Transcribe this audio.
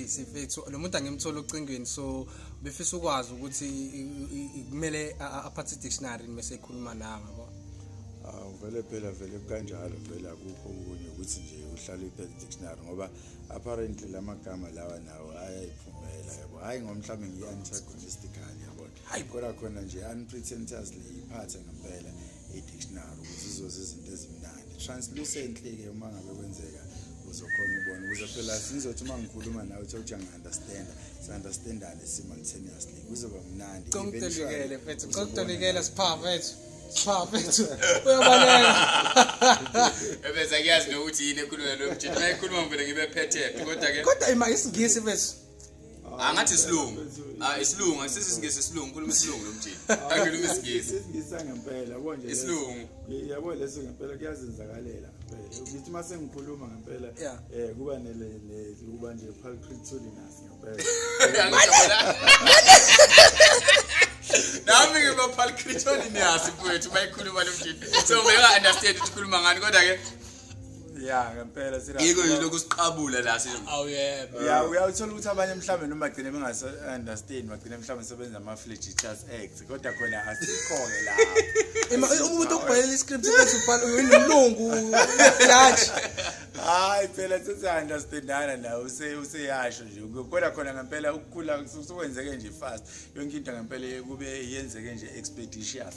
sifethu lo muntu angimthola ocingweni so befisa ukwazi ukuthi kumele aphathe dictionary mase ekhuluma la ngabo awu vele phela vele kanjalo vele akukho okunye ukuthi nje uhlale uphethe dictionary ngoba apparently lamagama lawa nawo ayayiphumela yabo hayi ngomhlawumbe ngiyi-antagonistically yabona kodwa khona nje unpretentiously iphathe ngempela i-dictionary ukuze uzoza izinto ezimnandi translucently-ke uma ngabe kwenzeka uzokhona ubona ukuze phela sizothi uma ngikhuluma nawe uthe ukuthi angi-understanda si-understandane simultaneously kuzoba mnandi congitolikele fethu congitolikele siphaa fethu siphaa fethu uyabaleka ebese kuyazi nokuthi yini ekhuluma lo mjini uma ekhuluma ngivele ngibe phethe kodwa-ke kodwa ima isingisi fethu Ah, ngathi isilungu. Ah, isilungu, sisi singisi isilungu, khuluma isilungu lomjini. Ah, Angilumi isingisi. Isingisa ngempela, yabo nje. Isilungu. Yabo leso ngempela kuyazenzakalela. Ngithi uma sengikhuluma ngempela eh kuba ne kuba nje pulchritulinous ngempela. nami ngibaphalchritulinous mfowethu bayikhuluma lomjini so beka understand ukuthi ukhuluma ngani kodwa ke ya ngempela yiko yilo kusiqabula la awuyebo oh, ya uyawuthola ukuthi abanye mhlawumbe noma bagcine bengase understand bagcine mhlawumbe sebenza ama flagitious acts kodwa khona asikhoke la uma umuntu obhalela iscript ukuthi ubhala uyinilungu judge hayi phela sithi understandana la use useyasho nje kodwa khona ngempela ukukhula kusukwenzeke nje fast yonke into ngempela kube yenzeke nje expeditious